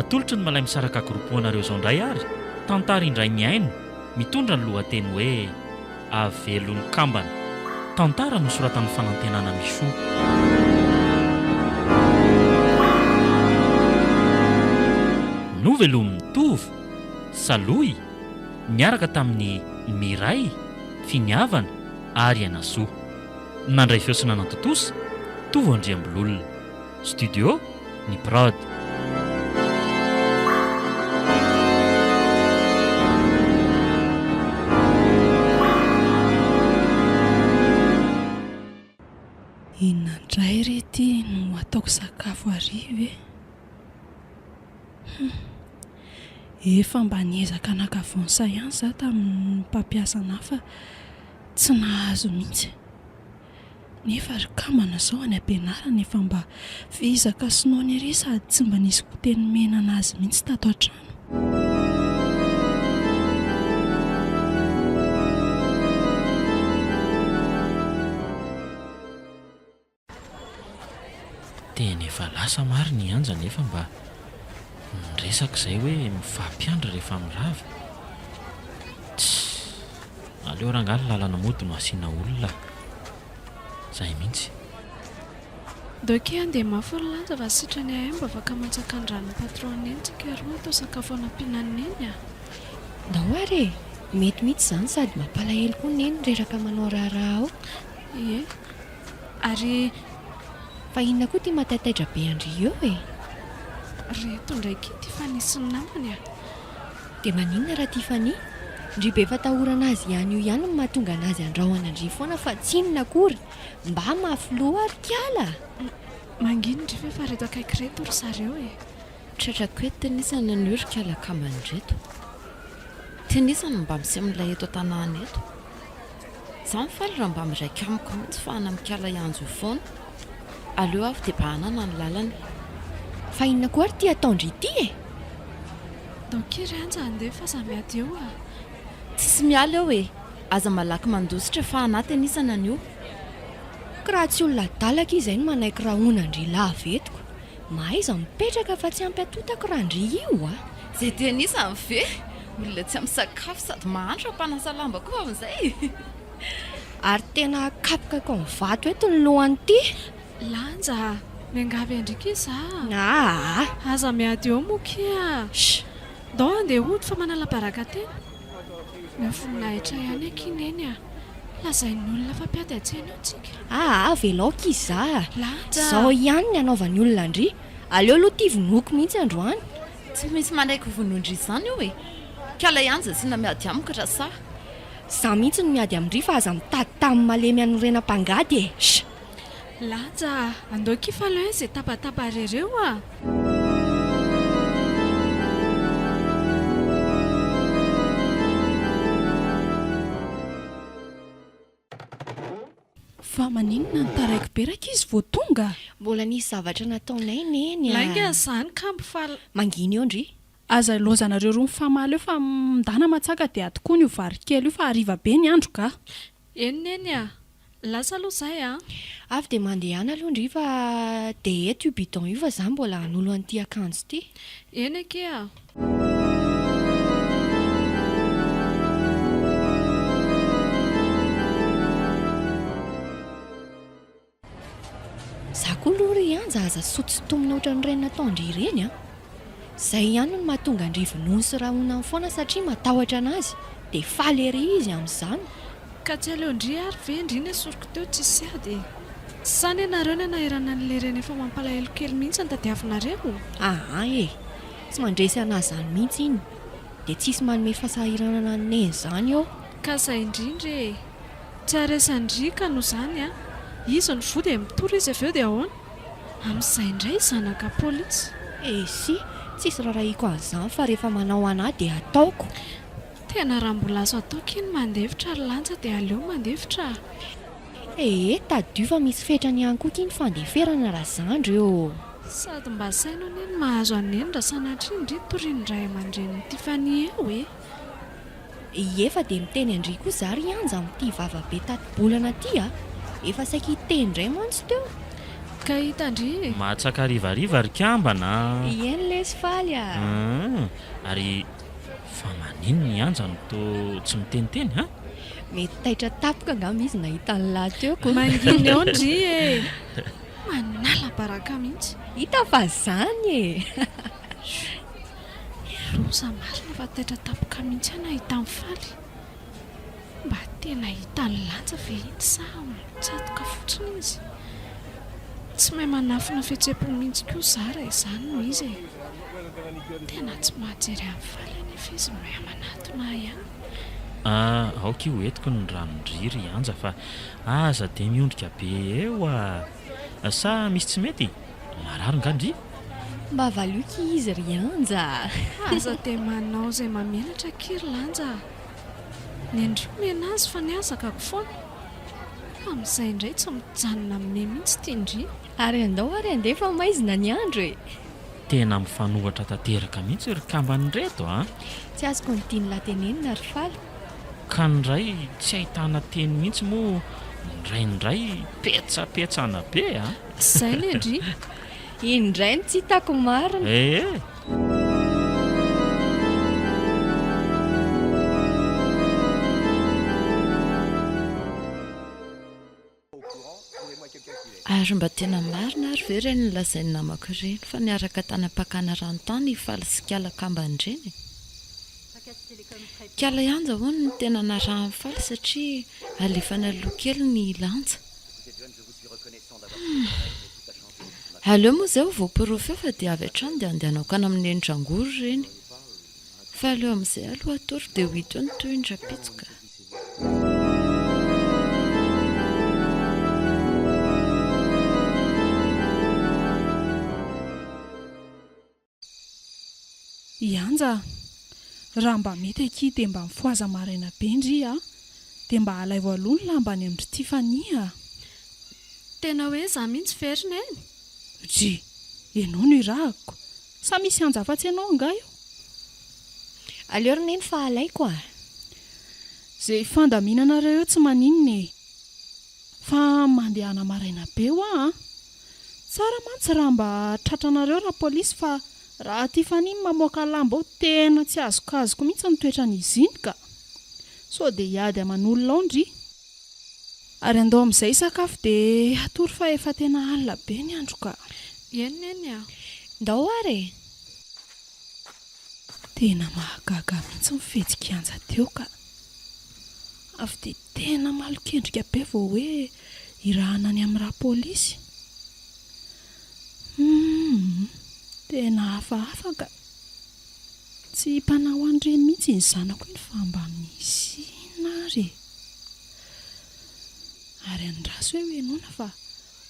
Atolotry ny Malay Misaraka Group ho anareo izao indray ary tantara indray mihaino mitondra ny lohateny hoe Avelon'ny kambana. Tantara nosoratan'i Fanantenana Michou. Novelomin'i Tovo, Salohy. niaraka tamin'i Miray, Finiavana ary Henasoa. Nandray feo sy nanantontosa, Tovo Andriambololona. Studio, ny prod. Inona indray re ity no ataoko sakafo hariva e! Humm. Efa mba niezaka naka vonsa ihany izaho tamin'ny mpampiasa anà fa tsy nahazo mihitsy. Nefa ry kambana izao any am-pianarana efa mba vizaka sy noana ery sady tsy mba nisy goûté nomena an'azy mihitsy tato an-trano. Tena efa lasa marina i Anja nefa mba miresaka izay hoe mifampiandry rehefa mirava. Tssy! Aleo rangaha ny lalana mody no asiana olona a! Izay mihitsy. Ndao kay handeha mafy ry Lanja fa sitrany ahay mba afaka mantsaka ny ran'ny patron neny tsika roa hatao sakafo hanampiana an'i Neny a! Ndao ary e! Mety mihitsy izany sady mampalahelo koa Neny reraka manao raharaha ao. Ie. Ary fa inona koa ity mataitaitra be an-dry eo e? Ry eto indray ity Tiffany sy ny namany a! Dia maninona ra Tiffany? Ndry be fatahorana azy ihany io ihany no mahatonga anazy andrahona an-dry foana fa tsy inona akory! Mba mafy loha ary kiala a! Manginy ndry fa efa reto akaiky reto ry zareo e! Tratrako eto tenisany anio ry kiala kambany reto! Tenisany mba miseho milay eto an-tanàna eto! Za mifaly raha mba miraika amiko mitsy fa ana mikala hianjo io foana aleo avy de bahanana ny lalana e. Fa inona koa ary ty ataondry ity e! Daoka iry anja handeha fa za miady eo a! Tsisy miala eo e! Aza malaky mandositra fa anaty anisany anio. Ka raha tsy olona adala akia izay no manaiky rahona an-dry lava eto ka! Mahaiza mipetraka fa tsy hampiatontako raha ndry io a! Zay te hanisa ny ve? Olona tsy misakafo sady mahantra mpanasa lamba koa amin'izay e! Ary tena kapoka ko ny vato eto ny lohany ty! Lanja a! Miangavy an-driaka izaho a! Aa! Aza miady eo moa kia a! Sh! Ndao handeha hody fa manala baraka tena! Mahafinaritra ihany akia Neny a! Lazain'ny olona fa mpiady an-tsena eo tsika. Aa avelao akia izaho a! Lahatra! Izao ihany ny anaovan'ny olona an-dry! Aleo aloha ity vonoiko mihitsy androany! Tsy misy manaiky ho vonoin-dry izany io e! Ka ilay anja asiana miady amiko raha sahy! Izaho mihitsy no miady amin-dry fa aza mitady tany malemy hanorenam-pangady e! Sh! Lanja a! Andao kif aloha eh ze tabataba rereo a! Fa maninona no taraiky be rankizy vao tonga? Mbola nisy zavatra nataonay neny a! Lainga zany kambo fa. Mangina eo ndry. Aza ilaozanareo roa mifamaly eo fa mindahy na matsaka dia ato koa ny ho vary kely io fa hariva be ny andro ga! Eny Neny a! Lasa aloha izay a! Avy dia mandehana aloha ndry fa dia eto io bidon io fa izaho mbola hanolo an'ity akanjo ity. Eny akia a! Za koa aloha ry Anja aza soa tsy tomina ohatran'ireny nataon-dry ireny an! Izay ihany no mahatonga an-dry vonoiny sy rahonany foana satria matahotra anazy, dia faly ery izy amin'izany. Ka tsy aleon-dry ary ve ndry nesoriko teo tsisy ady e! Sa anie nareo no anahirana an'ilay reny efa mampalahelo kely mihitsy no tadiavinareo? Aa e! Tsy mandresy anazy izany mihitsy iny, dia tsisy manome fasahiranana ny neny izany ô! Ka izay indrindra e! Tsy aresan-dry ka noho izany an! Izy no voa dia mitory izy avy eo dia ahoana? Amin'izay indray zanaka polisy. Esy, tsisy rarahiako an'izany fa rehefa manao anah dia ataoko. Tena raha mbola azo atao kin mandefitra ry lanja dia aleo mandefitra a! Ee, tadidio fa misy fetrany ihany koa kin fandeferana raha zandry eo. Sady mba saino anie ny mahazo an'i Neny raha sanatria ndry torian'ny ray aman-drenin'i Tiffany eo e! Ie fa dia miteny an-dry kosa ary Anja amin'ity vava be tati-bolana ity a! Efa saika hiteny indray mantsy teo. Ka hitan-dry e! Mahatsaka harivariva ry kambana a! Ie ny lesy faly a! Hum! Ary fa maninona i Anja no toa tsy miteniteny a! Mety taitra tampoka angamba izy nahita ny lahy teo ko! Manginy ao ndry e! Manala baraka mihitsy! Hita fa izany e! Niroso marina fa taitra tampoka mihitsy aho nahita an'i Faly. Mba tena hita nilanja ve iny sa mitsatoka fotsiny izy? Tsy mahay manafina fihetsem-po mihitsy koa izaho raha izany no izy e! Tena tsy mahajery an'i Faly anefa izy mahay manatona ahy ihany. Aoka io entiko ny ranondriry hianja fa aza dia miondrika be eo a! Sa misy tsy mety? Marary nga ndry? Mba valioky izy ry Anja a! Aza dia manao izay mamelatra ki ry Lanja a! Nendreo miaina azy fa nihazakako foana. Fa amin'izay indray tsy mijanona aminay mihitsy ity ndry! Ary andao ary andeha fa maizina ny andro e! Tena mifanohitra tanteraka mihitsy ry kamban'ireto a! Tsy azoko ny tian'la tenenina ry Fala. ka ny iray tsy ahitana teny mihitsy moa ny iray indray petsapetsana be a! Izay ny an-dry! Indray no tsy hitako marina! Ee! Ary mba tena marina ary ve ireny nolazain'ny namako ireny fa niaraka tany am-pakana rano tany i Faly sy Kiala kambany ireny e? Kiala Yanja hono no tena narahan'i Faly satria alefany aloha kely ny lanja. Humm. Aleo moa izay ho voaporofo eo fa dia avy hatrany dia andeha hanaokana amin'ny nenitrangory ireny. Fa aleo amin'izay aloha atoro dia ho hita eo ny tohiny rapitso ka. Ianja a! Raha mba mety akia dia mba mifohaza maraina be ndry a! Dia mba alaivo aloha ny lamba any amin-dry Tiffany a! Tena hoe izaho mihitsy ve ry Neny? Ry! Ianao no irahako! Sa misy hanja afatsy anao angaha io? Aleo ry neny fa alaiko a! Ze fandaminanareo eo tsy maninona e! Fa mandehana maraina be hoa a! Tsara mantsy raha mba tratranareo rapolisy fa raha ty faniny mamoaka lamba ao tena tsy azokazoko mihitsy ny toetran'izy iny ka! Sao dia hiady aman'olona ao ndry! Ary andao amin'izay hisakafo dia hatory fa efa tena alina be ny andro ka. Eny Neny a! Ndao ary e! Tena mahagaga mihitsy ny fety kianja teo ka. Avy dia tena malon-kendrika be vao hoe hirahana any amin'ny rà polisy. Humm! Tena hafahafa ka. Tsy himpanaoa an'ireny mihitsy ny zanako iny fa mba misy inona ary e! Ary an'i Raso eo henoina fa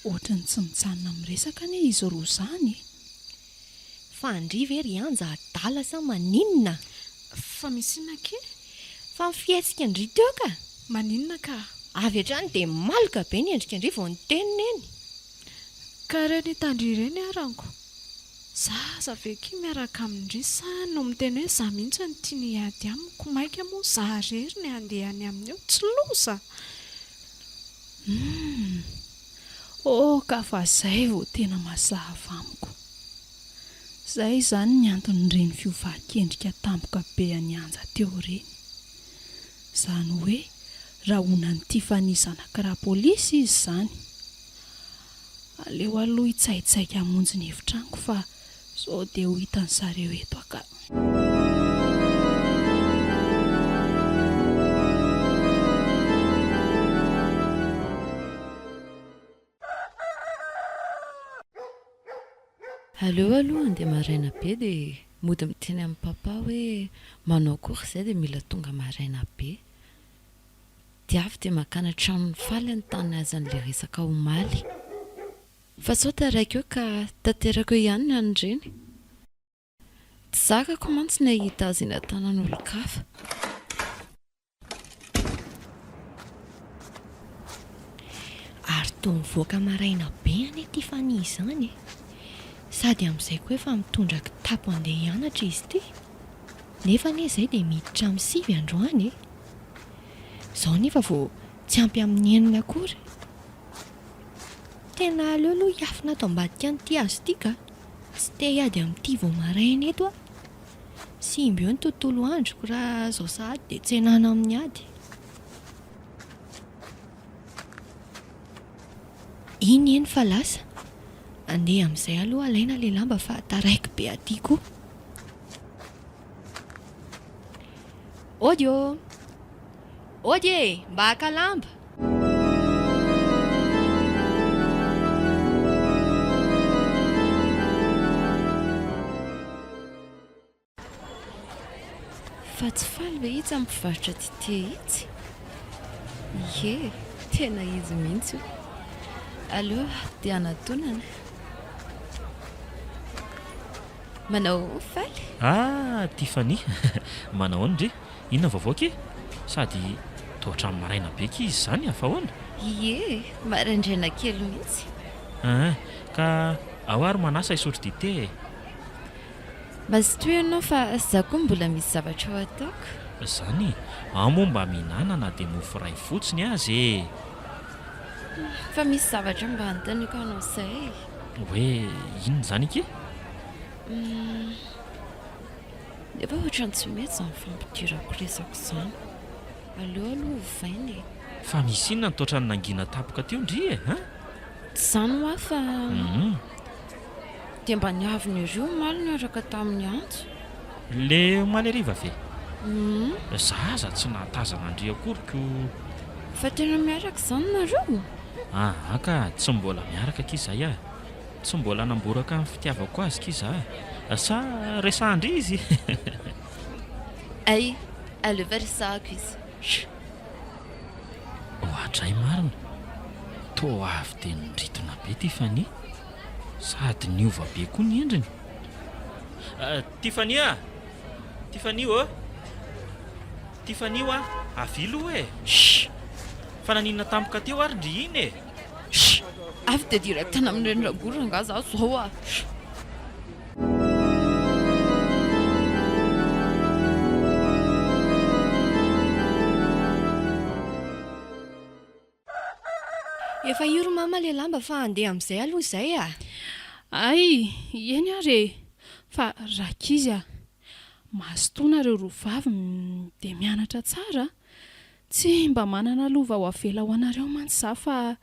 ohatran'ny tsy mijanona amin'ny resaka anie izy roa zany e! Fa an-dry ve ry Anja adala sa maninona? Fa misy inona kay? Fa ny fihetsika an-dry teo ka! Maninona ka? Avy hatrany dia maloka be ny endrika an-dry vao niteny neny! Ka ireny hitan-dry ireny ary anko! Zaza ve akia miaraka amin-dry sa no miteny hoe za mihitsy no tiany hiady amiko, maika moa za rery ny handeha any aminy eo, tsy loza! Humm! Oh ka fa zay vao tena mazava amiko! Zay izany ny anton'ireny fiovan-kendrika tampoka be an'i Anja teo ireny. Izany hoe rahonan'i Tiffany zanak'i Rapolisy izy izany. Aleo aloha hitsaitsaika hamonjy ny efitranoko fa sao dia ho hitan'ny zareo eto aka. Aleo aloha handeha maraina be dia mody miteny amin'i Papa hoe manao akory izay dia mila tonga maraina be. Dia avy dia makany an-tranon'i Faly ny tany niazan'ilay resaka omaly. Fa sao taraiky eo ka tanterako eo ihany ny an'ireny. Tsy zakako mantsy ny hahita azy eny an-tanan'olon-kafa. Ary toa mivoaka maraina be anie ity Fanny izany e! Sady amin'izay koa efa mitondra kitapo handeha hianatra izy ity. Nefa anie izay dia miditra amin'ny sivy androany e! Izao nefa vao tsy ampy amin'ny enina akory. Tena aleo aloha hiafina ato ambadika an'ity hazo ity ka! Tsy te hiady amin'ity vao maraina eto aho. Simba eo ny tontolo androko raha izao sahady dia tsenana amin'ny ady. Iny eny fa lasa. Andeha amin'izay aloha alaina ilay lamba fa taraiky be aty koa. Ody ô! Ody e! Mba haka lamba! Fa tsy faly ve itsy amin'ny mpivarotra dite itsy? Ie, tena izy mihitsy io. Aleo dia hanatonana. Manao faly? Ah, Tiffany! Manao ahoana re? Inona vaovao ke? Sady toa hatramin'ny maraina be kizy izany a! Fa ahoana? Ie, maraindraina kely mihitsy. Aa, ka ao ary manasa hisotro dite e! Mazotoa ianao fa izaho koa mbola misy zavatra ho ataoko. Izany? Ao moa mba mihinana na dia mofo iray fotsiny aza e! Fa misy zavatra mba hanontaniako anao izay e! Hoe inona izany ke? Hum. Nefa ohatrany tsy mety izany fampidirako resaka izany. Aleo aloha ovaina e. Fa misy inona ny toatran'ny nangina tapoka teo ndry e hein? Tsy izany hoa fa. Hum. Dia mba niavona ery omaly niaraka tamin'i Antso. Le omaly hariva ve? Hum. Za aza tsy nahatazana an-dry akory ko. Fa tena miaraka izany nareo? Aa ka, tsy mbola miaraka akia izay a. Tsy mbola namboraka ny fitiavako azy ki za sa resahan-dry izy? Hay, aleo fa resahako izy. Hum. Oadray marina, toa avy dia nindritona be Tiffany, sady niova be koa ny endriny. Tiffany a! Tiffany ô! Tiffany ô a! Avia aloha e! Shh! Fa naninona tampoka teo ary ndry iny e! Sh! Avy dia direct any amin'ny reny Ragor angaha za zao a! Sh! Efa io ry mama le lamba fa andeha amzay aloha izay a! Ay! Eny ary e! Fa rankizy a! Mazotoa nareo roa vavy dia mianatra tsara a! Tsy mba manana lova ho avela ho anareo mantsy za fa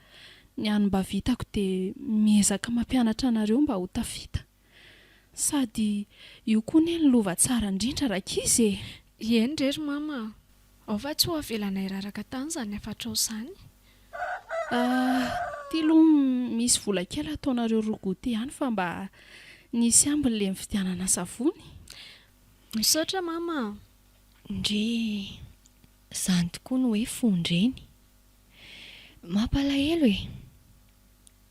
ny any mba vitako dia miezaka mampianatra anareo mba ho tafita. Sady io koa anie ny lova tsara indrindra rankizy e! Ieny re ry mama a! Ao fa tsy ho avelanay raraka tany izany hafatrao izany. Aah, ity aloha misy vola kely ataonareo roa goûter ihany fa mba nisy ambiny ilay nividianana savony. Misaotra mama a! Ndry! Zany tokoa no hoe fon-dreny. Mampalahelo e!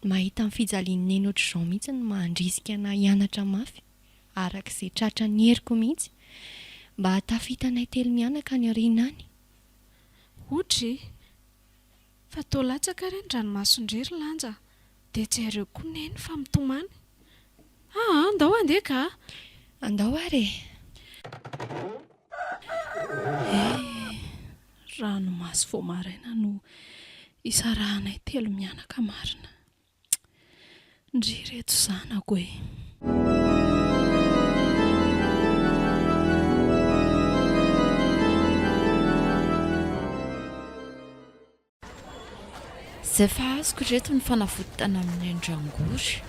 Mahita ny fijalian'i Neny ohatr'izao mihitsy no mahandrisika anah hianatra mafy araka izay tratran'ny heriko mihitsy mba hahatafita anay telo mianaka any aoriana any. Otry! Fa toa latsaka re ny dranomason-dry ry Lanja a! Dia jereo koa Neny fa mitomany! Ah ah! Andao handeha ka a! Andao ary e! Eh! Ranomaso vao maraina no isarahanay telo mianaka marina. Ndry ireto zanako e! Izay fa azoko ireto ny fanavotana amin'ny andrangory.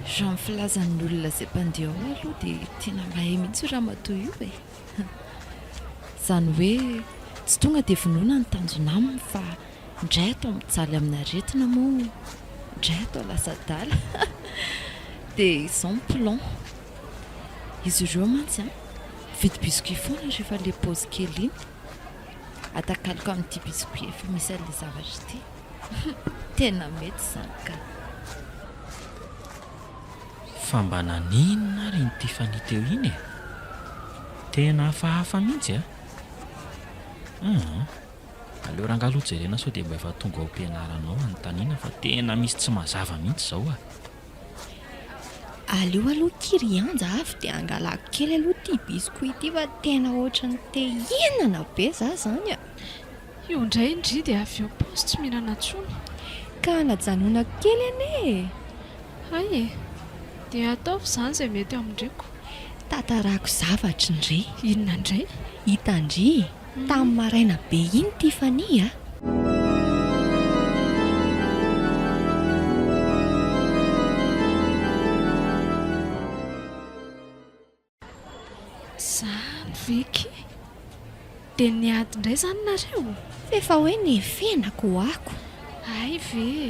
Raha ny filazan'ny olona izay mpandeha ao aloha dia tena mahay mihitsy io ramatoa io e! Izany hoe tsy tonga dia vonoina ny tanjona aminy fa indray atao mijaly amina aretina moa indray atao lasa adala dia izao ny plan izy ireo mantsy an! mividy biscuit foana rehefa ilay pause kely iny atakaloko amin'ity biscuit efa misy an'ilay zavatra ity tena mety izany ka! Fa mba naninona ary iny Tiffany teo iny e? Tena hafahafa mihitsy a! Hum, aleo rangah aloha jerena sao dia mba efa tonga ao am-pianarana ao anontaniana fa tena misy tsy mazava mihitsy izao a! Aleo aloha ki ry Anja avy dia angalako kely aloha ity biscuit ity fa tena ohatran'ny te hihinana be za izany a! Io indray ndry dia avy eo paosy tsy mihinana tsony. Ka najanonako kely anie e! Hay e! Dia ataovy izany izay mety amindriko. Tantarako zavatra ndry. Inona indray? Hitandry tamin'ny maraina be iny Tiffany a! Zany ve ki? Dia niady indray izany nareo? F'efa hoe nefenako ho ako. Hay ve e!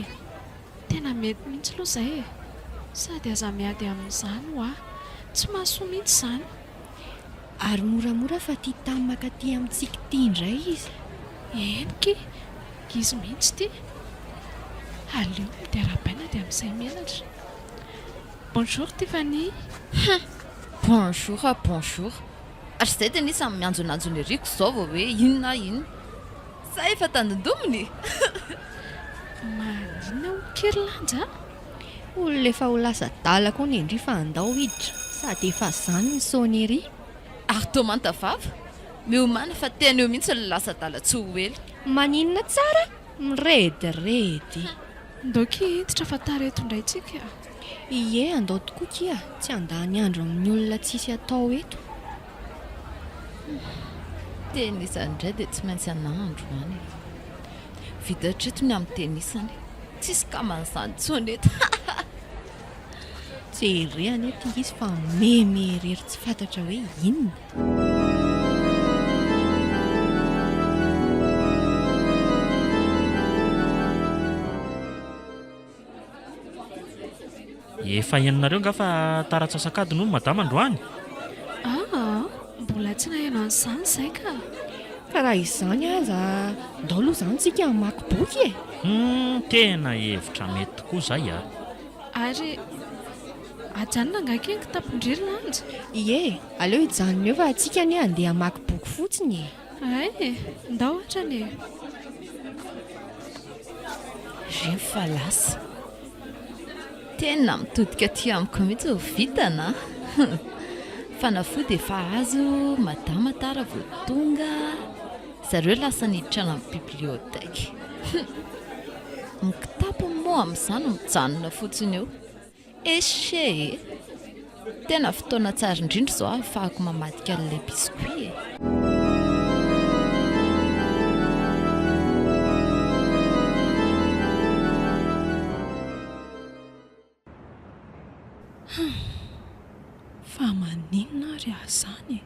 Tena mety mihitsy loha izay e! Sady aza miady amin'izany ho'a! Tsy mahasoa mihitsy izany! Ary moramora fa tia tam maka aty amintsika ity indray izy. Eny ki! Izy mihitsy ity! Aleo midia arahabaina dia misay menatra. Bonjour Tiffanie hein! Bonjour a bonjour ary zay de anie samy mianjonanjo ny riko zao vao hoe inona ah inona sa efa tandindomina e! Maninona hoy ker lanja a! Olona efa ho lasa adala koa ny ndry fa andao hiditra sady efa zany ny son ery. Ary toa manta vava, miomana fa tena eo mihitsy ny lasa adala tsy ho ela. Maninona tsara mirediredy. Ndao ky hiditra fa tareto ndray tsika. Ié andao tokoa kia tsy handany andro amin'ny olona tsisy atao eto. Tena izany indray dia tsy maintsy anà androany e. Vita hatreto ny amin'ny tenisany. Tsisy kaman'izany intsony eto. Jereo anie ity izy fa meme irery tsy fantatra hoe inona. Efa henonareo nga fa tara antsasak'adiny hono madama androany? Aa, mbola tsy naheno an'izany izahay ka. Ka raha izany aza, ndao aloha izany tsika hamaky boky e! Humm, tena hevitra mety tokoa izay a! Ary ajanona angaha kely kitapon-dry Lanjy? Ie, aleo hijanona eo fa tsika anie handeha hamaky boky fotsiny e! Hay e! Ndao hatrany e! Reny fa lasa. Tena mitodika aty amiko mihitsy vao vitana a! Fanafody efa azo, madama tara vao tonga, zareo lasa niditra any amin'ny bibliothèque. Hum! Ny kitapony moa amin'izany mijanona fotsiny eo. Echee eh! Tena fotoana tsara indrindra izao ahafahako mamadika an'ilay biscuit eh! Fa maninona ary aho izany e?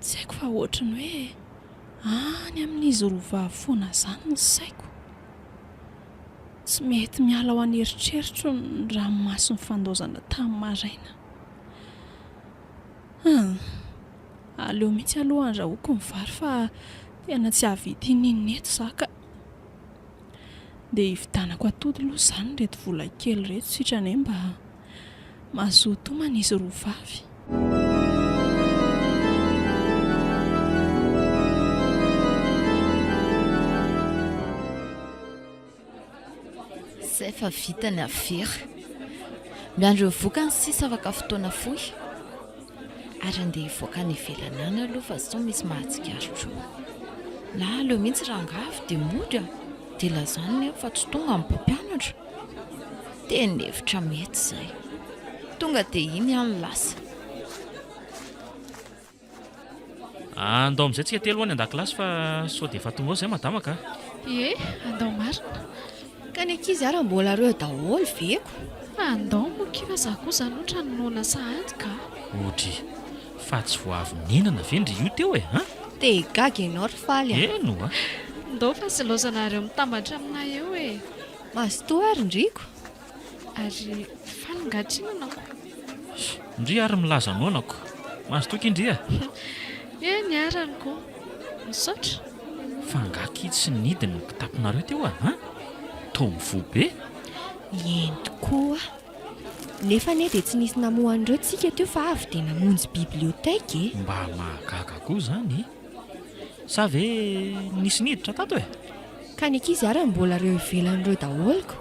Tsy haiko fa ohatry ny hoe any amin'izy roa vavy foana izany ny saiko. Tsy mety miala ao an'eritreritro ny ranomaso nifandaozana tamin'ny maraina. Hum, aleo mihitsy aloha handrahoako ny vary fa tena tsy hahavita in'inona eto izaho ka. Dia hividianako atody aloha izany ireto vola kely ireto sitrany mba Mahazoa tomany izy roa vavy. Izay fa vita ny afera. Miandry ny vokany sisa afaka fotoana fohy. Ary andeha hivoaka any ivelany any aloha fa sao misy mahatsikaritra eo. Na aleo mihitsy rangaha avy dia mody an! Dia lazany ny ahy fa tsy tonga ny mpampianatra. Teny hevitra mety zay. Tonga dia iny aho no lasa. Andao amin'izay tsika telo any an-dakilasy fa sao dia efa tonga ao izay madama ka. Ie, andao marina. Ka ny ankizy ary mbola reo daholo ve ko. Andao moa ki fa za kosa loatra ny noana sahady ka. Odry, fa tsy vao avy nihinana ve ndry io teo e a? Te higaga ianao ry Faly a. Eny oa. Ndao fa silaozanareo mitambatra aminay eo e. Mazotoa ary ndryko ary faly ngatry nonako. Ndry ary milaza nonako. Mazotoa ki ndry a. Eny niaranko. Misaotra. Fa nga ki tsy nidina ny kitapinareo teo a? An? Toa mivoa be. Eny tokoa. Nefa anie dia tsy nisy namoha an'ireo tsika teo fa avy dia namonjy bibliothèque e. Mba mahagaga koa izany e. Sa ve nisy niditra tato e? Ka ny ankizy ary mbola reo ivelany reo daholo ko.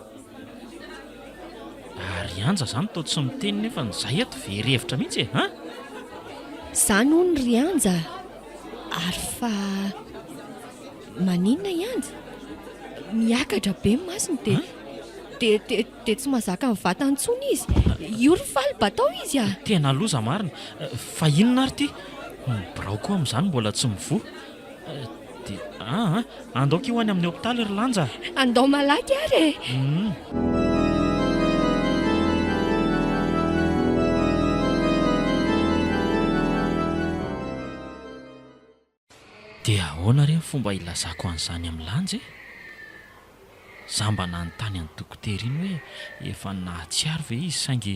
Ary Anja zany toa tsy miteny nefa ny zahay eto very hevitra mihitsy e an! Zany hono ry Anja ary fa maninona i Anja? Miakatra be ny masony dia dia dia. Dia tsy mazaka ny vatany intsony izy. Io ry faly batao izy a! Tena loza marina. Fa inona ary ity? Ny birao koa amin'izany mbola tsy mivoha. Dia aa! Andaoko io any amin'ny hopitaly ry Lanja a! Andao malaky ary e! Hum. Dia ahoana re ny fomba hilazako an'izany amin'i Lanja e? Izaho mba nanontany an'i Dokotera iny hoe efa nahatsiaro ve izy saingy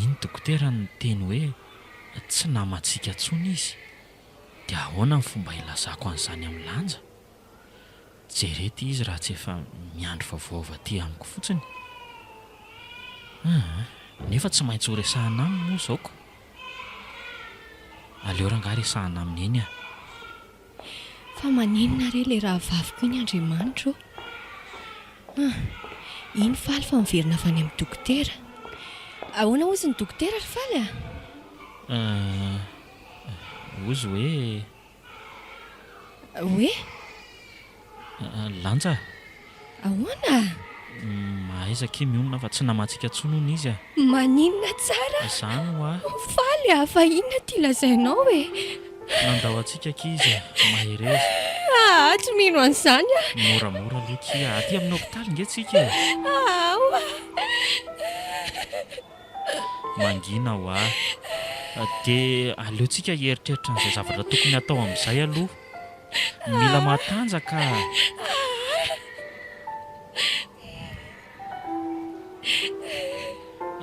iny Dokotera no niteny hoe tsy namantsika intsony izy. Dia ahoana ny fomba hilazako an'izany amin'i Lanja? Jereo ity izy raha tsy efa miandry vaovaova aty amiko fotsiny. Aa! nefa tsy maintsy ho resahina aminy moa izao ko! Aleo rangah resahina aminy eny ah! Fa maninona re ilay rahavaviko iny Andriamanitra ô! Aa! iny Faly fa miverina avy any amin'ny dokotera. Ahoana hozy ny dokotera ry Faly ah? Aa! hozy hoe. Hoe? Lanja. Ahoana? Mahaiza akia mionona fa tsy namatsy ka tsony hono izy a! Maninona tsara? Izany hoa. Ho faly aho fa inona ity lazainao e? Nandao antsika akia izy a! Mahereza. Aa! Tsy mino an'izany aho. Moramora aloha akia. Aty amin'ny hopitaly nge tsika e! Aowa! mangina hoa. Dia aleontsika hieritreritra an'izay zavatra tokony hatao amin'izay aloha. Mila matanjaka.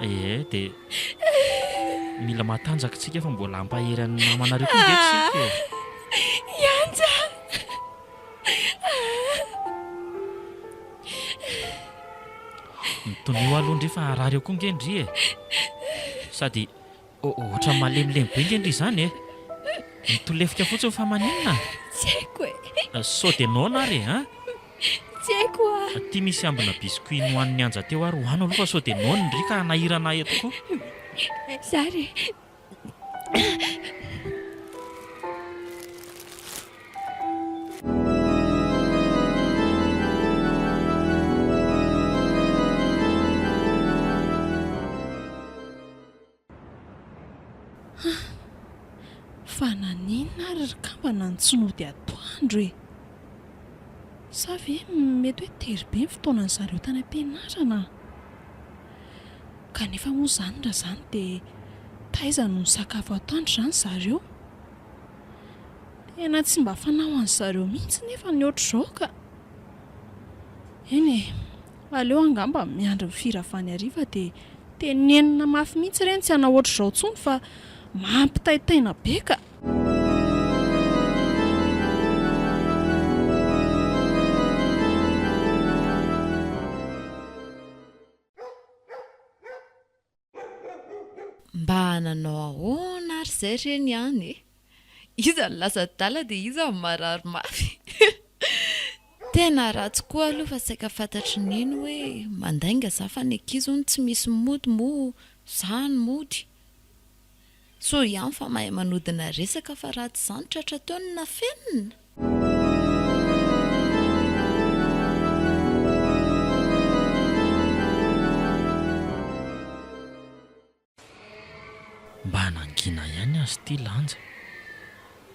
Ee, dia mila matanjaka isika fa mbola hampahery an'ny mamanareo koa ve tsika e? Yanja. Mitonio aloha ndry fa harary eo koa nge ndry e! Sady ohatran'ny malemilemy be nge ndry izany e! Mitolefika fotsiny fa maninona? Tsy haiko e! Sao dia noana ary e! Tsy haiko a! Aty misy ambina biscuit nohanin'i Anja teo ary ho ano aloha fa sao dia noany ndry ka hanahirana ahy eto koa? Zary e! Fa naninona ary ry kambana no tsy nody atoandro e? Sa ve mety hoe tery be ny fotoanan'izareo tany am-pianarana? Kanefa moa izany raha izany dia taiza no nisakafo atoandro izany zareo? Tena tsy mba fanao an'i zareo mihitsy nefa ny ohatr'izao ka! Eny e, aleo angamba miandry ny firavany hariva dia tenenina mafy mihitsy ireny tsy hanao ohatr'izao intsony fa mampitaitaina be ka! Mba nanao ahoana ary izay re ny any e? Iza no lasa adala dia iza no marary mafy? Tena ratsy koa aloha fa saika fantatry nino hoe mandainga za fa ny ankizy hono tsy misy mody moa za no mody? Tsoa ihany fa mahay manodina resaka fa raha tsy izany tratra teo ny nafenina! Mba nangina ihany aza ity lanja.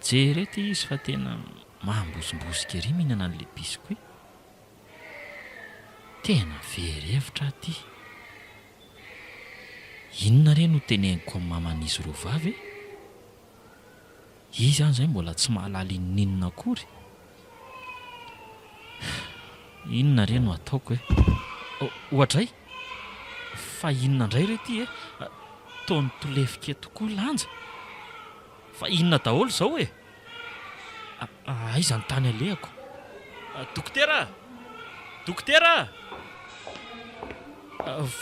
Jereo ity izy fa tena mambosombosika ery mihinana an'ilay biscuit. Tena very hevitra aho ty. Inona re no teneniko amin'ny maman'izy roa vavy e? Izy any zay mbola tsy mahalala inoninona akory. Inona re no ataoko e? Oadray! Fa inona ndray re ty e? Toa nitolefika tokoa lanja. Fa inona daholo zao e? Aiza ny tany alehako? Dokotera! Dokotera!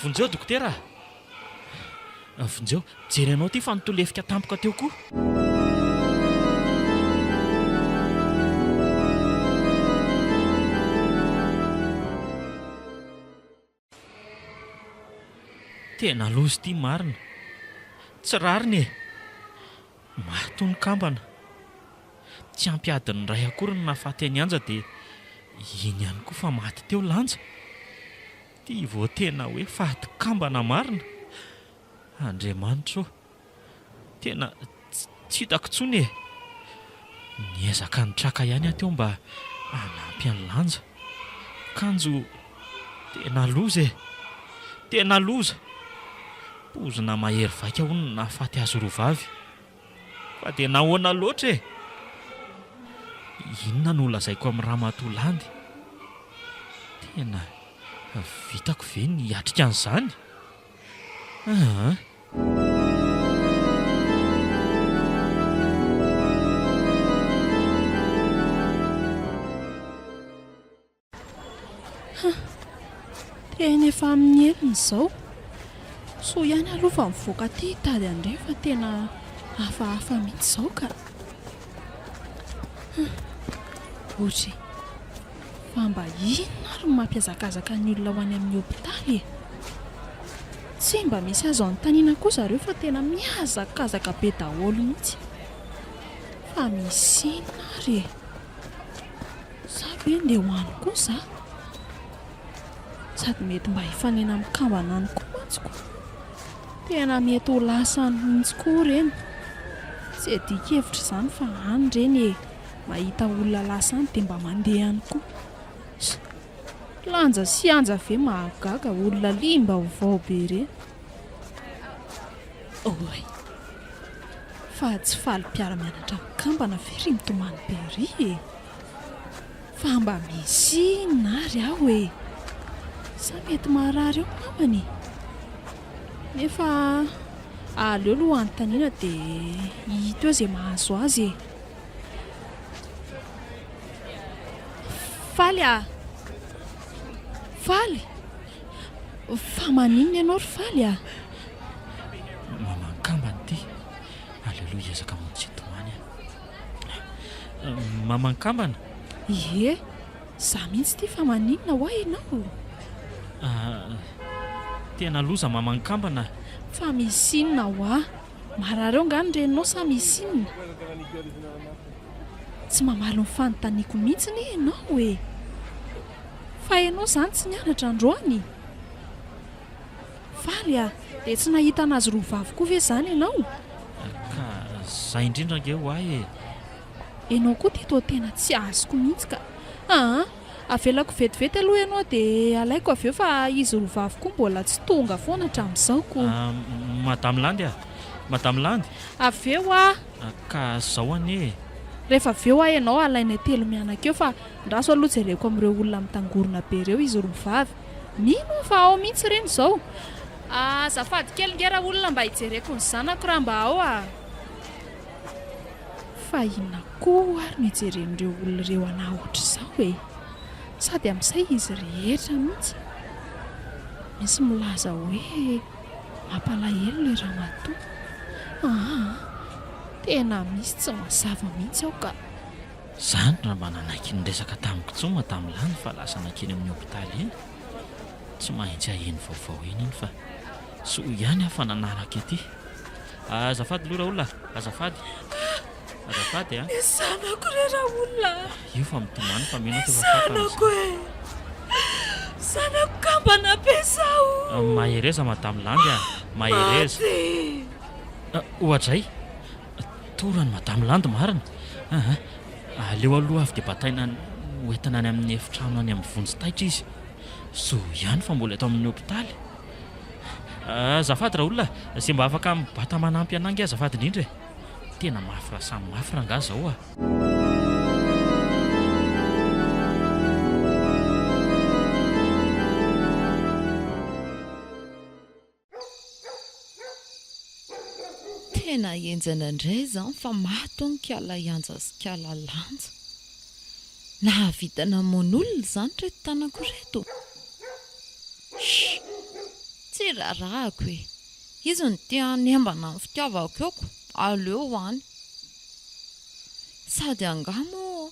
Vonjeo dokotera! Vonjeo, jery anao ity fa nitolefika tampoka teo koa! Tena loza ity marina. Tsy rariny e! Maro toa ny kambana. Tsy ampy adiny iray akory no nahafaty an'i Anja dia iny ihany koa fa maty teo Lanja. Ity vao tena hoe faty kambana marina. Andriamanitra ô! Tena tsy hitako intsony e! Niezaka nitraka ihany aho teo mba hanampy an'i Lanja. Kanjo tena loza e! Tena loza! Poizina mahery vaika hono no nahafaty azy roa vavy. Fa dia nahoana loatra e! Inona no holazaiko amin'i Ramatoa Landy? Tena vitako ve ny hiatrika an'izany? Aa! Tena efa amin'ny enina izao. Soa ihany aloha fa mivoaka aty hitady an'ireny fa tena hafahafa mihitsy izao ka. Ory. Fa mba inona ary no mampihazakazaka ny olona ho any amin'ny hopitaly e? Tsy mba misy azo anontaniana koa zareo fa tena mihazakazaka be daholo mihitsy. Fa misy inona ary e? Sa ve ndeha ho any koa za? Sady mety mba hifanena amin'ny kambana any koa mantsy ko. Tena mety ho lasa any mihitsy koa ireny. Tsy adika hevitra izany fa any ireny e, Mahita olona lasa any dia mba mandeha any koa. Lanja sy anja ve mahagaga olona liam-baovao be ireny. Oay. Fa tsy faly mpiara-mianatra mikambana ve ry mitomany be ry e? Fa mba misy inona ary aho e? Sa mety marary eo namany e? Nefa aleo aloha hanontaniana dia hita eo izay mahazo azy e. Faly ah! Faly? Fa maninona ianao ry Faly ah? Maman-kambany ty. Aleloa hiezaka manomtsitomany ah. Maman-kambana? Ie, za mihitsy ty fa maninona ho'a ianao? Ah, tena loza maman-kambana ah. Fa misy inona ho'a? Marary ao nga ny reninao sa misy inona? Tsy mamaly ny fanontaniako mihitsy anie ianao e! Fa ianao izany tsy nianatra androany? Faly a! Dia tsy nahita an'azy roa vavy koa ve izany ianao? Ka izay indrindra ange ho ahy e! Ianao koa Tito tena tsy azoko mihitsy ka! Aa! Avelako vetivety aloha ianao dia alaiko avy eo fa izy roa vavy koa mbola tsy tonga foana hatramin'izao koa. Madame Landy a! Madame Landy! Avy eo hoa! Ka zao anie e! Rehefa avy eo hoa ianao alainay telo mianaka eo fa andraso aloha jereko amin'ireo olona mitangorona be ireo izy roa vavy. Mino aho fa ao mihitsy ireny izao. Azafady kely nge raolona mba hijereko ny zanako raha mba ao a! Fa inona koa ary no ijeren'ireo olona ireo anà ohatr'izao e? Sady amin'izay izy rehetra mihitsy misy milaza hoe mampalahelo ilay ramatoa. Aa! Tena misy tsy mazava mihitsy ao ka! Izany raha mba nanaiky niresaka tamin'i Kitsoma tamin'ilany fa lasa nankeny amin'ny hopitaly iny. Tsy mahintsy haheno vaovao eny iny fa. Soa ihany aho fa nanaraka ity. Azafady aloha Raoul a! Azafady! Azafady a! Ny zanako re Raoul a! Io fa mitomany fa mino aho fa efa fantany izany. Ny zanako e! Zanako kambana be zaho o! Mahereza Madame Landy a! Mahereza! Maty! Oadray! Torany Madame Landy marina! Aa! Aleo aloha avy dia bataina any ho entina any amin'ny efitrano any amin'ny vonjy taitra izy. Soa ihany fa mbola eto amin'ny hopitaly. Azafady raolona ze mba afaka mibata manampy anah nge azafady indrindra e! tena mafy ra samy mafy rangah zao a! Tena enjana ndray zany fa maty hono kala Ianja sy kala Lanja. Nahavita namono olona izany ireto tanako ireto. Shh! Tsy rarahiko e! Izy no te hanembana ny fitiavako eo ko aleo ho any. Sady angaha moa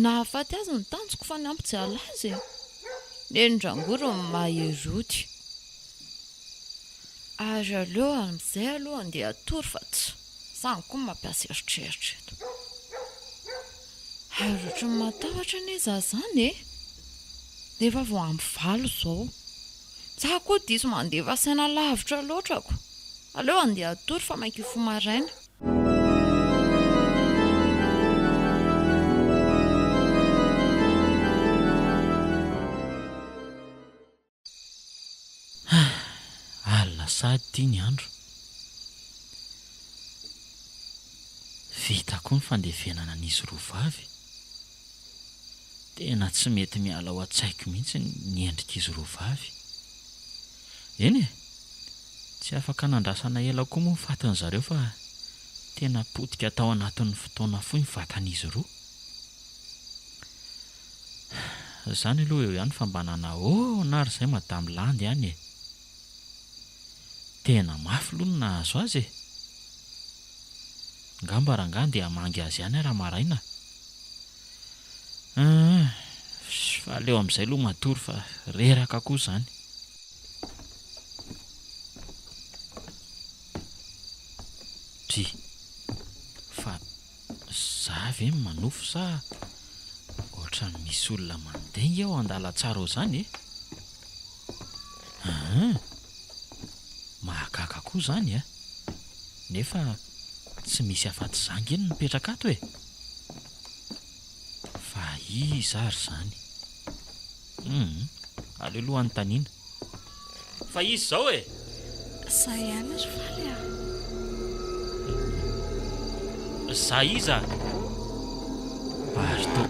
nahafaty azy ny tanjoko fa ny hampijaly azy e! Nenindrangory ny mahery ody. Ary aleo amin'izay aloha andeha hatory fa tsy. Izaho koa mampiasa eritreritra eto. Hay ohatry ny matahotra anie izaho izany e! Nefa vao ampy valo izao. Izaho koa diso mandefa saina lavitra loatra ko. Aleo handeha hatory fa maika hifoha maraina. Ah! Alina sahady ity ny andro. Vita koa ny fandevenana an'izy roa vavy. Tena tsy mety miala ao an-tsaiko mihitsy ny endrik'izy roa vavy. Eny e! Tsy afaka nandrasana ela koa moa ny fatin'izareo fa tena potika tao anatin'ny fotoana fohy ny vatan'izy roa. Izany aloha eo ihany fa mba nanao ahoana ary izay Madame Landy any e! Tena mafy aloha ny nahazo azy e! Angamba rangahy handeha hamangy azy ihany ary maraina. Humm, fa aleo amin'izay aloha matory fa reraka koa izany. Dry, fa. Za ve no manofy sa ohatran'ny misy olona mandeha nge ao an-dalantsara ao zany e? Ahh, mahagaga koa zany a! Nefa tsy misy afatsy za nge no mipetraka ato e! Fa iza ary zany? Humm, aleo aloha anontaniana. Fa izy izao e! Za ihany ry faly a! Za iza? Ary toa,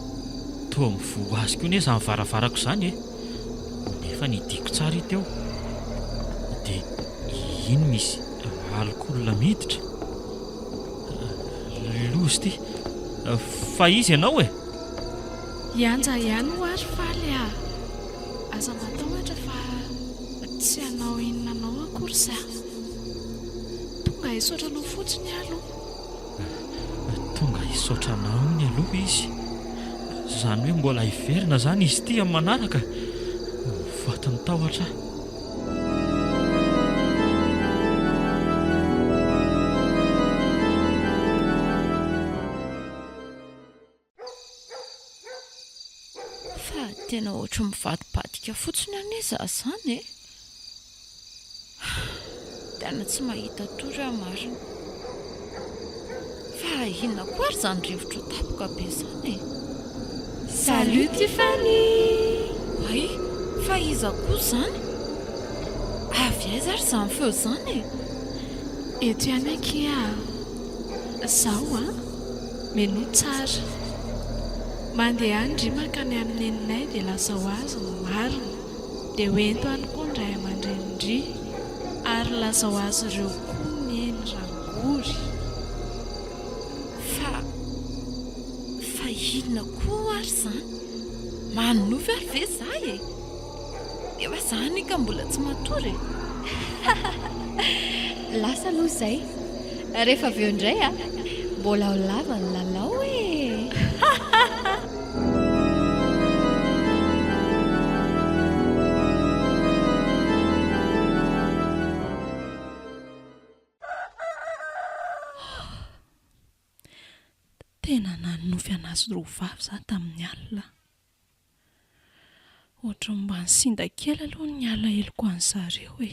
toa mivoha azy koa anie izany varavarako izany e! Nefa nidiko tsara i Teo. Dia iny misy alikaola miditra. Loza ity! Fa iza ianao e? Hianja ihany hoa ry Faly a! Aza matahotra fa tsy hanao inona anao akory za. Tonga hisaotra anao fotsiny aho aloha. Tonga hisaotra anao iny aloha izy. Izany hoe mbola hiverina izany izy ity amin'ny manaraka? Ho fatin'ny tahotra aho. Fa tena ohatry ny mivadibadika fotsiny anie za zany e! Tena tsy mahita tory aho marina. Fa inona koa ary zany rivotra ho tapoka be zany e! Salut Tiffany! Ay, fa iza koa zany? Avy aiza ary zany feo zany e! Eto ihany akia aho. Zao an! Menu tsara. Mandehany ry mankany amin'ny neninay dia lasa ho azy ny marina. Dia ho ento any koa ny ray aman-drenin-dry. Ary lasa ho azy ireo koa ny eny rangory. Fa, fa inona koa ary izany? Manonofy ary ve izaho e? Nefa za anie ka mbola tsy matory e! Lasa aloha izay, rehefa avy eo indray a! Mbola ho lava ny lalao e! Tena nanonofy an'azy roa vavy za tamin'ny alina. Ohatran'ny mba nisinda kely aloha ny alaheloko an'zareo e.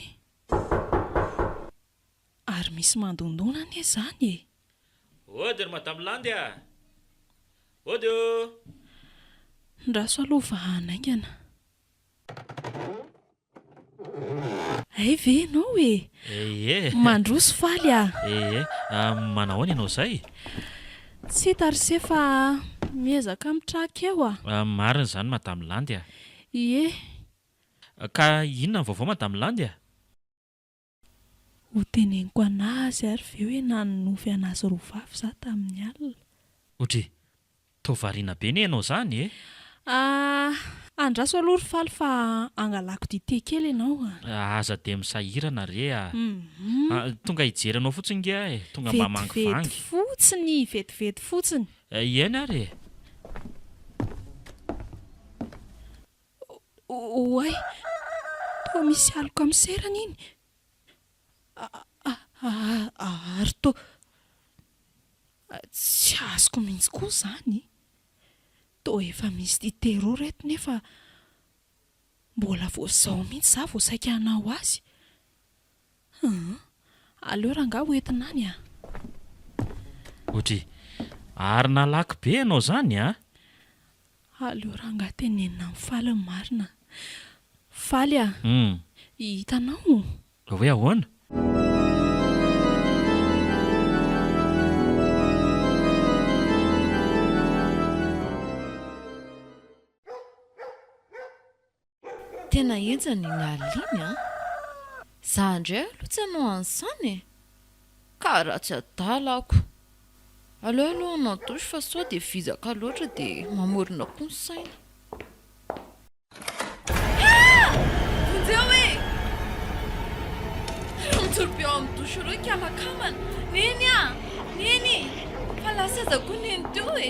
Ary misy mandondona anie izany e! Ody ry Madame Landy a! Ody o! Ndraso aloha fa hanaingana. Hay ve ianao e! Ee! Mandroso faly ah! Ee! Manahoana ianao izay? Tsy hita ry se fa miezaka mitraka eo ah! Marina izany Madame Landy ah! Ie! Ka inona ny vaovao Madame Landy ah? Ho teneniko an'azy ary ve hoe nanonofy an'azy roa vavy za tamin'ny alina? Odry, toa variana be ne ianao zany e! Ah, andraso aloha ry faly fa angalako dite kely ianao a! Aza dia misahirana re a! Ah, tonga hijery anao fotsiny nge aho e! Tonga mba mangivangy. Vetivety fotsiny, vetivety fotsiny. Hiaina ary e! Oay! Toa misy aloka miserana iny! Ary toa tsy azoko mihitsy koa izany e! Toa efa misy tia terreau ry reto nefa mbola vao izao mihitsy izaho vao saika hanao azy! Hum, aleo rangah ho entina any a! Odry, ary nalaky be ianao zany a! Aleo rangah tenenina amin'ny faly ny marina. Faly a! Hum. Hihita anao o! Hoe ahoana? Tena henjana i Nalin a! Za ndray aloha tsy hanao an'zany e! Ka ratsy adala ako! Aleo aloha hanao douche fa sao dia vizaka loatra dia mamorona koa ny saina. Ha! Vonjeo e! Ireo mijoro be ao amin'ny douche ireo hikamakambana. Neny a! Neny! Fa lasa aza koa neny teo e!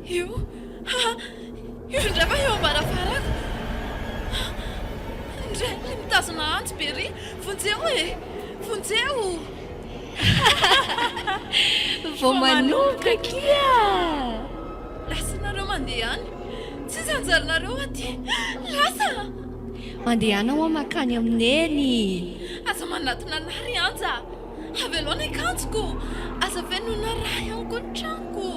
Io, ha, io indray va eo am-baravarako? Indray ilay mitazona antsy be ery, vonjeo e, vonjeo! Vao manomboka akia! Lasanareo mandeha any, tsy iza anjaranareo aty, lasa! Mandehana hoa mankany amin'i Neny! Aza manatona anah ry Anja! Havelao ny akanjoko! Aza feno na ra ihany koa ny tranoko!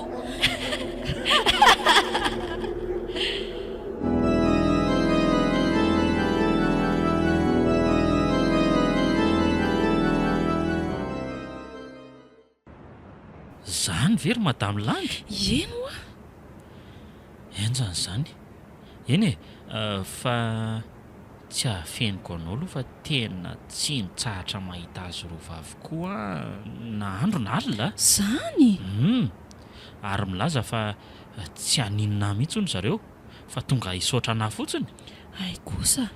Izany ve ry Madame Landy? Ie moa! Enjana izany! Eny e! Fa. Tsy afeniko anao aloha fa tena tsy nitsahatra mahita azy roa vavy koa na andro na alina. Zany? Humm. Ary milaza fa tsy haninona ahy mihitsy hono zareo fa tonga hisaotra anah fotsiny. Hay kosa.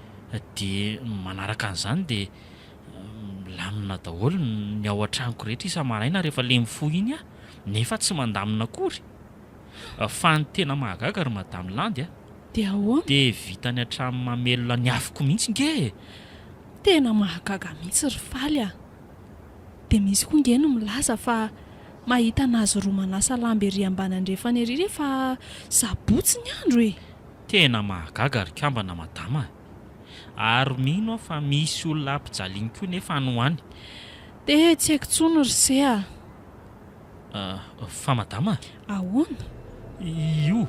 Dia manaraka an'izany dia milamina daholo ny ao an-tranoko rehetra isa-maraina rehefa le mifoha iny aho nefa tsy mandamina akory. Fa ny tena mahagaga ry Madame Landy a! Dia ahoana? Dia vitany hatramin'ny mamelona ny afoko mihitsy nge e! Tena mahagaga mihitsy ry Faly a! Dia misy koa nge ny milaza fa mahita an'azy roa manasa lamba ery ambany andrefana ery rehefa sabotsy ny andro e! Tena mahagaga ry kambana madama a! Ary mino aho fa misy olona ampijaliany koa nefa any ho any. Dia tsy haiko intsony ry se a! Ah, fa madama a! Ahoana? Io,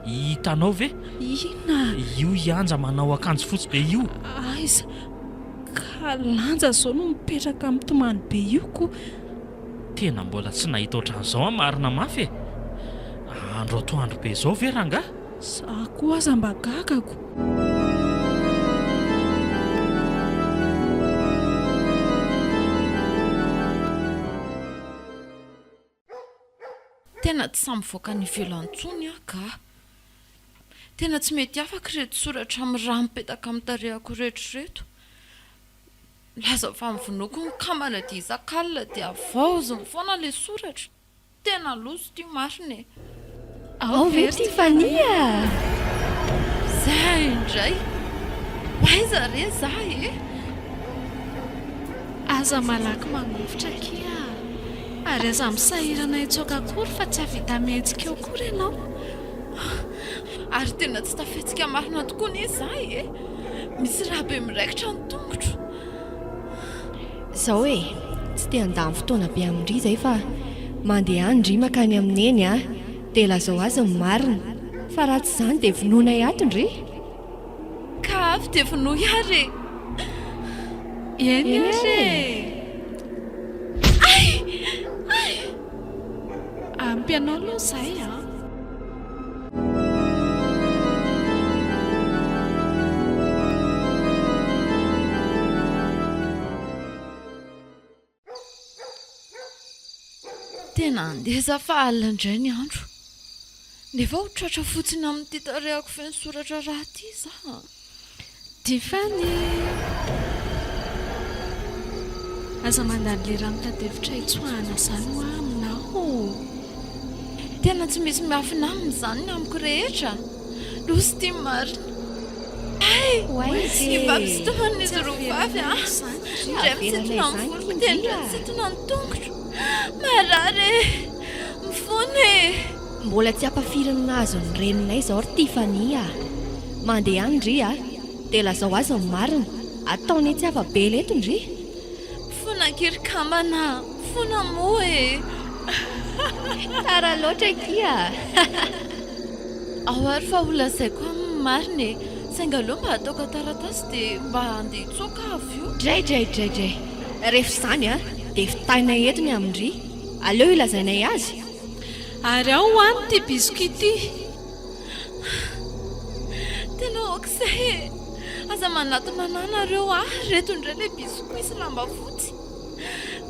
hitanao ve? Inona? Io Yanja manao akanjo fotsy be io. Aiza? Ka lanja izao no mipetraka mitomany be io ko! Tena mbola tsy nahita ohatran'izao aho marina mafy e! Andro atoandro be izao ve rangahy? Za koa aza mba gagako. Tena tsy sahy mivoaka any ivelany intsony aho ga. Tena tsy mety afaka ireto soratra amin'ny rà mipetaka amin'ny tarehako ireto ireto. Laza fa ny vonoako ny kambana dia isak'alina dia havaoziny foana ilay soratra. Tena loso ity marina e! Ao ve ity Fania a! Za indray! Ho aiza re za e! Aza malaky mangovitra akia a! Ary aza misahirana hitsoaka akory fa tsy hahavita mihetsika eo akory ianao! Ary tena tsy tafihetsika marina tokoa anie za e! Misy rà be miraikitra ny tongotro! Zao e! Tsy te handany fotoana be amin-dry izay fa mandehany ndry makany amin'i Neny a! Dia lazao azy ny marina fa raha tsy izany dia vonoinay ato ndry! Ka avy dia vonoy ary e! Eny ary e! Ay! Ay! Ampy anao aloha izay an! Tena handeha za fa alina indray ny andro. Dia vao ho tratra fotsiny amin'ity tarehako feno soratra raha ity za. Tiffany! Aza mandany lera mitati-hevitra hitsoahana izany hoa aminao ô! Tena tsy misy miafina aminy izany ny amiko rehetra! Losy ity marina! Hay! Hifampisitonana izy roa vavy an! Indray mitsintona ny voloko dia indray mitsintona ny tongotro! Marary e! Mifona e! Mbola tsy ampafirin'ny nahazo ny reninay izao ry Tiffany a! Mandeha any ndry a! Dia lazao azy ny marina! Ataony etsy afa-bela eto ndry! Fona kely kambana a! Fona moa e! Tsara loatra akia a! Ao ary fa holazaiko aminy ny marina e! Saingy aleo mba ataoko an-taratasy dia mba handeha tsoaka aho avy eo! Draidraidraidray! Rehefa izany dia vitaina eto ny amin-dry! Aleo ilazainay azy! Ary ao ho any ity biscuit ity. Tena aok'izay e! Aza manatona anah nareo a! Reto indray ilay biscuit sy lamba fotsy.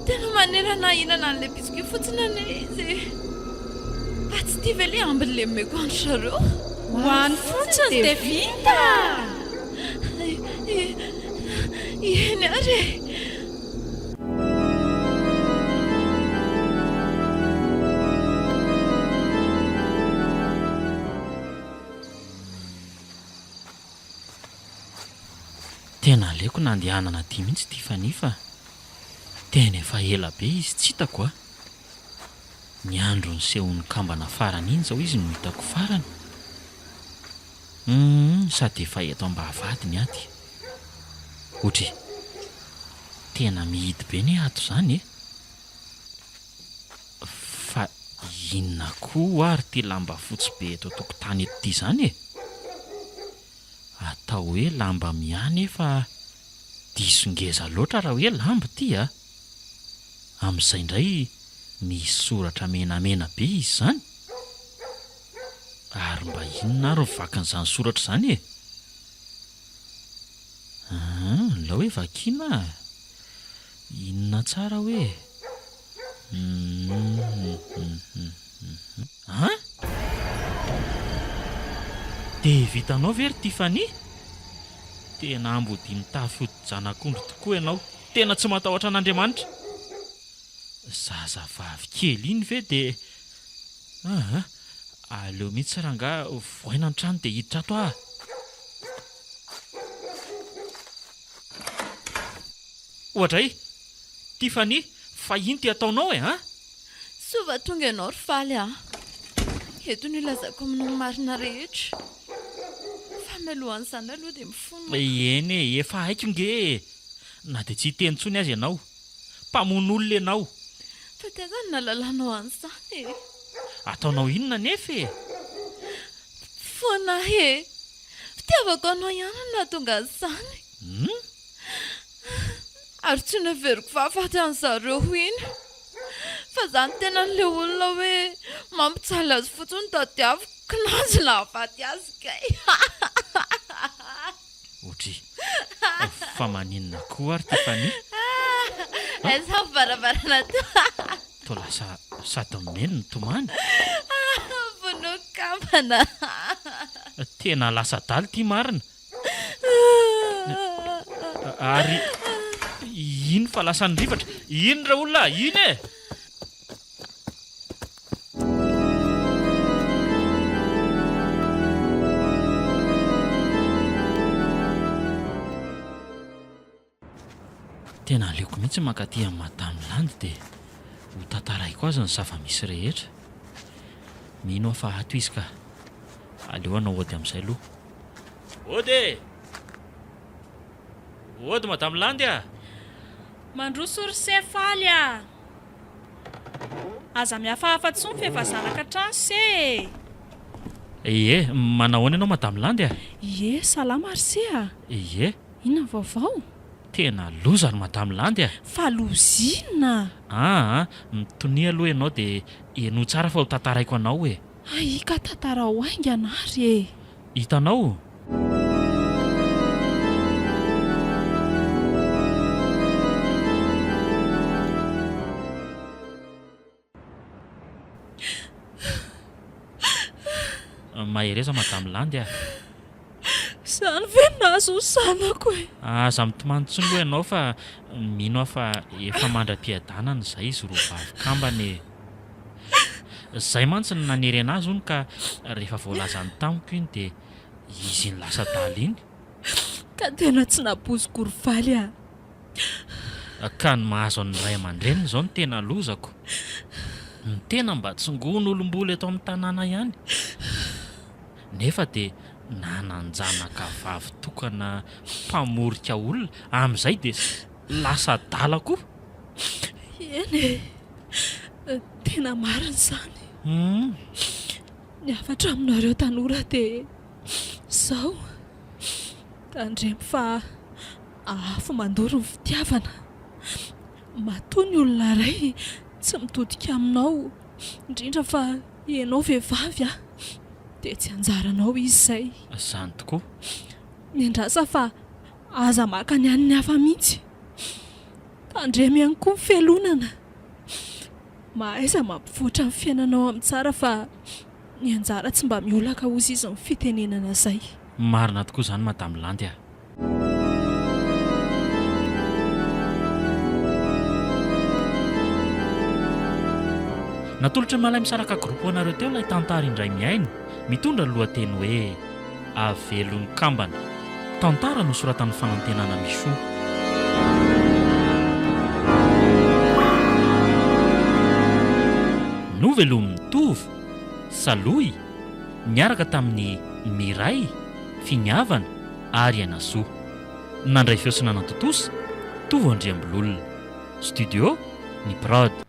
Tena manera anah hihinana an'ilay biscuit fotsiny anie izy e! Fa tsy ity ve ilay ambiny lemeko an-dry zareo? Ho any fotsiny dia vita! Ieny ary e! Jesosy. Tena aleoko nandehanana aty mihitsy ity Fanny fa tena efa ela be izy tsy hitako a! Ny andro nisehoan'ny kambana farany iny izao izy no hitako farany. Humm sady efa eto ambavahady ny ady. Otri. Tena mihidy be ne ato zany e. Fa inona koa ary ty lamba fotsy be eto an-tokotany eto ty zany e? Atao hoe lamba miahy nefa diso ngeza loatra raha hoe lamba ity a! Amin'izay indray misy soratra menamena be izy zany? Ary mba inona ary ny vakin'izany soratra izany e? Aa, nilao hoe vakiana a! Inona tsara hoe? Hum-hum-hum-hum-hum-hum. An? Dia vitanao ve ry Tiffany? Tena ambodia mitafy hodi-janak'ondry tokoa ianao. Tena tsy matahotra an'Andriamanitra. Zazavavy kely iny ve dia. Aha, aleo mihitsy rangahy voaina ny trano dia hiditra ato aho. Oadray, Tiffany, fa inty ataonao e an? Soa va tonga ianao ry Faly a! Eto no ilazako aminy ny marina rehetra. Fa mialohan'izany aloha dia mifono aho. Eny e, efa haiko nge e! Na dia tsy hiteny intsony aza ianao. Mpamono olona ianao. Fa tena nahalalanao an'izany e! Ataonao inona anefa e? Foana e! Fitiavako anao ihany no nahatonga an'izany. Hum? Ary tsy noheveriko fahafaty an'i zareo ho iny. Fa za ny tenan'ilay olona hoe mampijaly azy fotsiny no tadiaviko, kinanjo nahafaty azy kay. Audrey, fa maninona koa ary Tiffany a? Aiza varavarana toa? Toa lasa sady mihaino no tomany? Vonoiko kambana! Tena lasa adala ity marina! Ary iny fa lasa nirivatra! Iny ra olona a! Iny e! Tena aleoko mihitsy mankaty amin'i Madame Land dia ho tantaraiko azy ny zava-misy rehetra. Mino aho fa ato izy ka. Aleo hanao ody amin'izay aloha. Ody e! Ody Madame Land a! Mandroso ry se Faly a! Aza mihafahafa tsony f'efa zanaka hatrany se e! Ie, manao ahoana ianao Madame Landy a? Ie, salama ry se a! Ie. Inona ny vaovao? Tena loza ry Madame Landy a! Fa loza inona? Aa, mitonia aloha ianao dia henoy tsara fa ho tantaraiko anao e! Ahiaka tantarao haingana ary e! Hitanao? Mahereza Madame Landy ah! Izany ve no nahazo ny zanako e! Aza mitomany intsony aloha ianao fa mino aho fa efa mandra-piadanana izay izy roa vavy kambana e! Izay mantsy no nanery anazy hono ka rehefa voalazany tamiko iny dia izy iny lasa adala iny. Ka tena tsy napoiziko ry faly a! Ka ny mahazo an'ny ray aman-dreniny izao no tena lozako. Ny tena mba tsongoin' olom-bola eto amin'ny tanàna ihany. Nefa dia nanan-janaka vavy tokana mpamorika olona, amin'izay dia lasa adala koa. Eny e, tena marina izany. Ny hafatra aminareo tanora dia izao, tandremo fa afo mandoro ny fitiavana. Matoa ny olona iray tsy mitodika aminao, indrindra fa ianao vehivavy, dia tsy anjaranao izy izay. Izany tokoa. Miandrasa fa Aza maka ny an'ny hafa mihitsy. Tandremo ihany koa ny fialonana. Mahaiza mampivoatra ny fiainanao amin'ny tsara fa ny anjara tsy mba miolaka ozy izy ny fitenenana izay. Marina tokoa izany Madame Landy a. Natolotra malay misaraka groupe ho anareo teo ilay tantara indray mihaino, mitondra ny lohateny hoe. Avelon'ny kambana. Tantara nosoratan'ny fanantenana Michaux. Novelomin'i Tovo, Salohy, niaraka tamin'i Miray, Finiavana, ary Ainasoa. Nandray feo sy nanatontosa, Tovo Andriambololona. Studio, ny Prod.